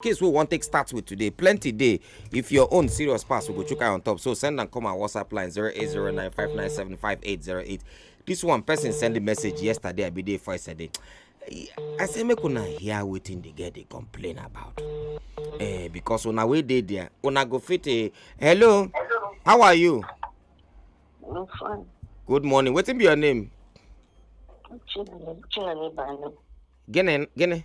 case wey we wan take start with today plenty dey if your own serious pass we go chook eye on top so send am come our whatsapp line 08095975808 this one person send the message yesterday i be there for yesterday i say make una hear wetin the girl dey complain about eh because una wey dey there una go fit eh hello how are you I'm fine. good morning wetin be your name Chinani, Chinani Bani. gene gene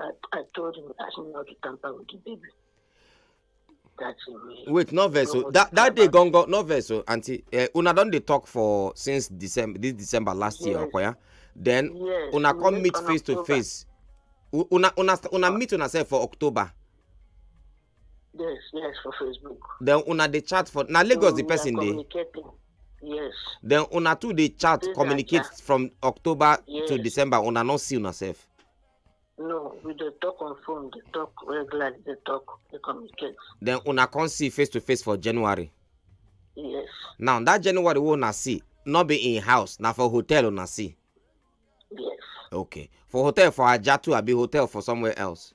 I, I told him I should not tamper with the baby. That's it. Wait, no verse. So that that day gone gone no verse. So auntie, uh, una don dey talk for since December this December last yes. year, Okoya. Then yes. una come meet face to face. Una una una meet una self for October. yes yes for facebook then una dey chat for na lagos the person dey yes then una too dey chat communicate from october to december una no see una sef no we dey talk on phone dey talk regularly dey talk dey communicate then una come see face to face for january yes now that january wey una see no be in house na for hotel una see yes okay for hotel for ajah too abi hotel for somewhere else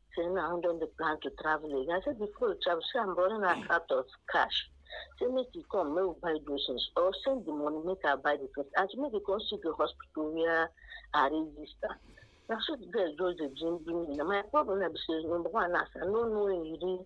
Say now don dey plan to travel again. I say before you travel, say I'm running out out of cash. Say make you come, make we buy those things. Or send the money, make I buy the things. And she make you come see the hospital where I register. Na so the girl just dey dream dream me. Na my problem na be say number one, as I no know him real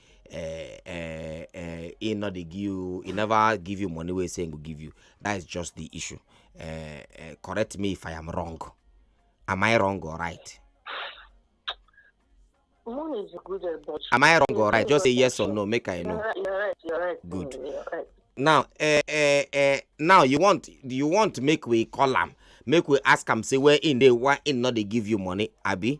uh, uh, uh, he not dey give you he never give you money wey say he go give you that is just the issue uh, uh, correct me if i am wrong am i wrong or right Money is good, eh, but am i wrong or right just say yes or no make i know you're right, you're right. Good. Mm, you're right. now uh, uh, uh, now you want you want make we call am make we ask am say where in dey why in no dey give you money abi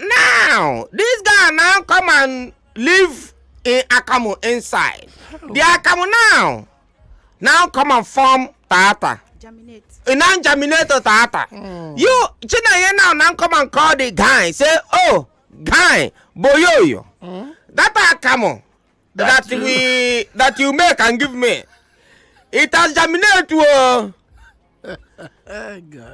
now this guy now come and live in akamu inside the akamu now now come and form tata germinate. e now germinate to tata you chinenye now now come and call the guy say oh guy boyoyo that akamu that we that you make and give me it has germinated o. Oh.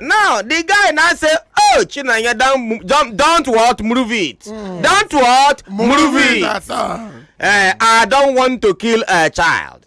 now the guy now say oh chinanya don don don't what move it mm. don't what move, move it, it uh, i don't want to kill a child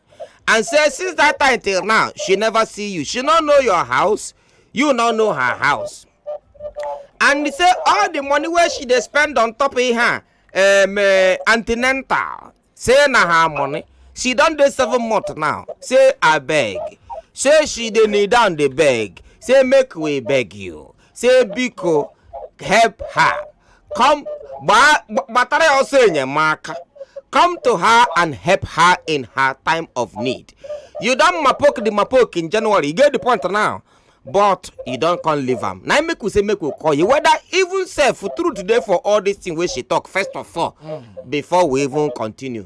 and say since that time till now she never see you she no know your house you no know her house and he say all the money wey she dey spend on top of her um, uh, antenatal say na her money she don dey seven months now say abeg say she dey kneel down dey beg say make we beg you si biko help her come gbaa- gba- gbatara ya ọsọ enyemaka come to her and help her in her time of need you don mapok the mapok in january you get the point now but you don come leave am na im make we say make we call you whether even sef truth dey for all this thing wey she talk first of all before we even continue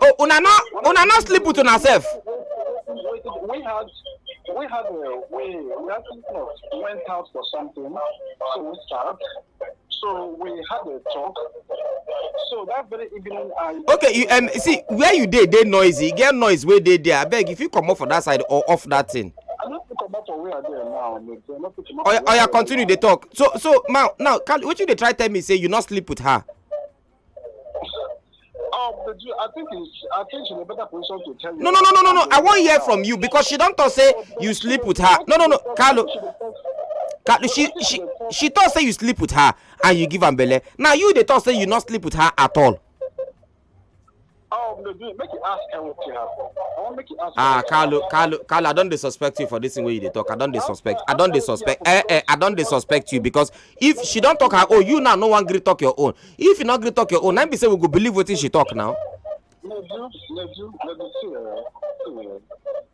Oh, una no, una no sleep with una self. We had, we had, uh, we, we had went out for something, so we start. So we had a talk. So that very evening, I. Okay, you um see where you dey dey noisy. Get noise wey dey there. Abeg, if you comot for that side or off that thing. I no fit comot for where I dey now. I no fit comot. Oya, oya, continue dey talk. So, so now, now, Kali, wetin you dey try tell me say you no sleep with her? Oh, but you, I think it's, I think she's in a better position to tell you. No, no, no, no, no, no. I won't hear from you because she don't talk say you sleep with her. No, no, no, Carlo. Carlo, she she she talk say you sleep with her and you give am belle. Now you dey talk say you not sleep with her at all. Oh, make you ask them what you have. I want make you ask. Ah, Carlo, Carlo, Carlo, I don't dey suspect you for this thing wey you dey talk. I don't dey suspect. I don't dey suspect. Eh, eh, I don't dey suspect you because if she don't talk her own, you now no one gree talk your own. If you not gree talk your own, then be say we go believe wetin she talk now. Leju, Leju, Leju, see, uh, see, uh.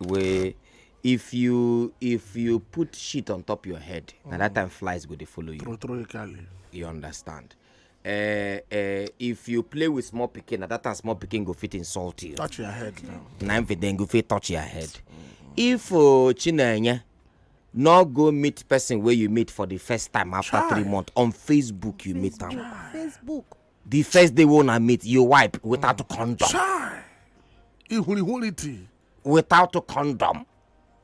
wey if you if you put shit on top your head mm. na that mm. time flies go dey follow you true true cali you understand uh, uh, if you play with small pikin na that time small pikin go fit insult you touch your head now na im fit then go fit touch your head mm. if uh, chinenye no go meet person wey you meet for the first time after Try. three months on facebook you meet am facebook the first day wey una meet you wipe without mm. condom chai ihurihurity without condom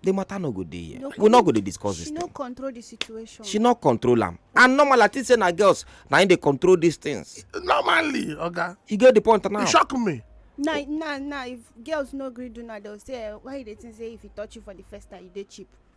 the matter no go dey here no, we no go dey discuss this thing she no control the situation she no control am and normally i think say na girls na im dey control these things normally oga okay. you get the point now e shock me na na na if girls no gree do na dem say eh, why you dey think say if he touch you for the first time you dey cheap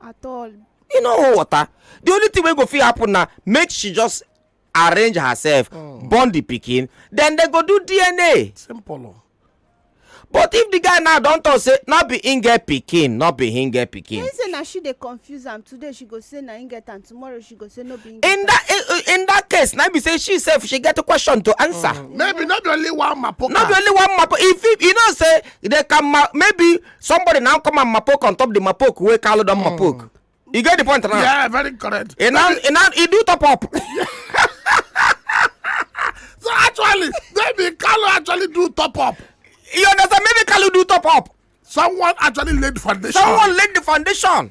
at all e no hold water the only thing wey go fit happen na make she just arrange herself oh. born the pikin then they go do dna simple oh. but if the guy now don talk say no be him get pikin no be him get pikin. he say na she dey confuse am today she go say na him get am tomorrow she go say no be him get am. in that in, in that case na be say she sef she get a question to answer. Mm. maybe no be only one mapoka. no be only one mapoka if you know say they can ma maybe somebody now come and mapok on top the mapok wey kalu don mapok you get the point now yeah very correct e now e now e do top up so actually maybe kalu actually do top up you understand maybe kalu do top up someone actually laid the foundation someone laid the foundation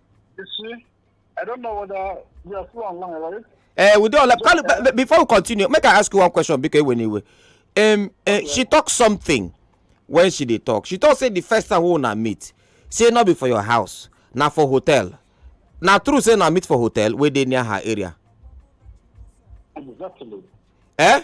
You see, I don't know whether we are still online, right? Uh, we don't like, but before we continue, make I ask you one question because when you um, uh, she talk something when she dey talk. She talk say the first time we una meet, say not be for your house, na for hotel. Na true say na meet for hotel wey dey near her area. Exactly. Eh?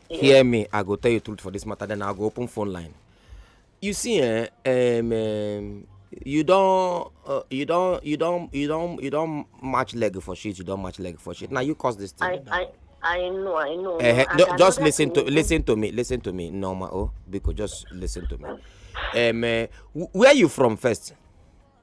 hear me i go tell you truth for this matter then i go open phone line you see eh um, um, you don uh, you don you don you don you don match leg for shit you don match leg for shit Now you cause this thing. I, I, I know, I know. Uh, no, just listen to listen to me, listen to me, Norma. Oh, because just listen to me. Um, uh, where you from first?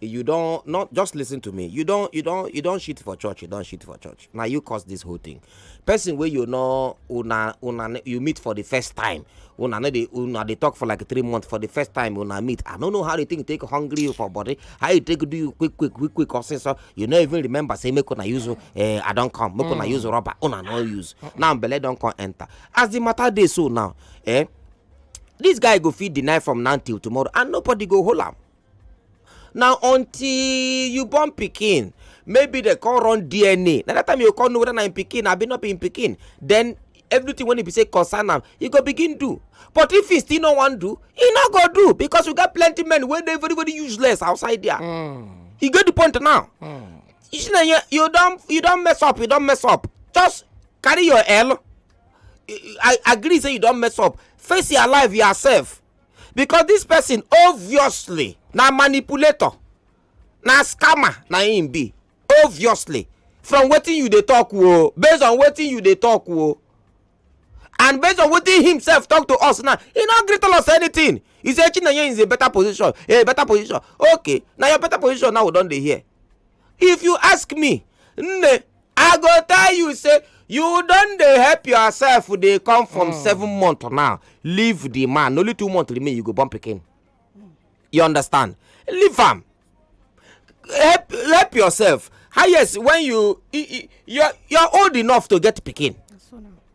you don not just listen to me you don you don you don shit for church you don shit for church na you cause this whole thing person wey you know una una you meet for the first time una no dey una dey talk for like three months for the first time una meet i no know how the thing take hungry you for body how you take do you quick quick quick quick or say so you no even remember say make una use uh, i don come make una mm. use rubber una no use now belle don come enter as the matter dey so now eh this guy go fit deny from now till tomorrow and nobody go hold am na until you born pikin maybe dem come run dna na that time you come know whether na im pikin abi not be im pikin then everything wey e be say concern am e go begin do but if e still no wan do e no go do because we get plenty men wey dey very very useless outside there mm. e get the point now mm. you see na you, you don you don mess up you don mess up just carry your l i agree say you don mess up face your life yourself because this person obviously na manipulator na scammer na him be obviously from wetin you dey talk o oh, based on wetin you dey talk o oh. and based on wetin himself talk to us now he no gree tell us anything he say chinenye is a better position a better position okay na your better position now we don dey hear if you ask me nne i go tell you say you don dey help yourself dey come from hmm. seven months now leave the man only two months remain you go born pikin you understand leave am help help yourself highest when you you are old enough to get pikin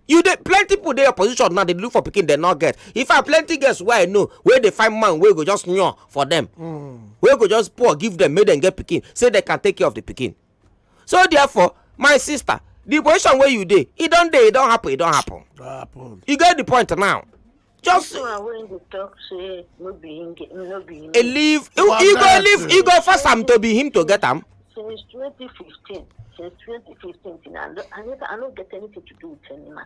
you dey plenty people dey your position now dey look for pikin dem no get in fact plenty girls wey i know wey dey find man wey go just yan for dem hmm. wey go just pour give dem make dem get pikin say dem can take care of the pikin so therefore my sister the position where you dey e don dey e don happen e don happen you get the point now just a leave you go leave you go force am to be him to get am since 2015 since 2015 i no get anything to do with any man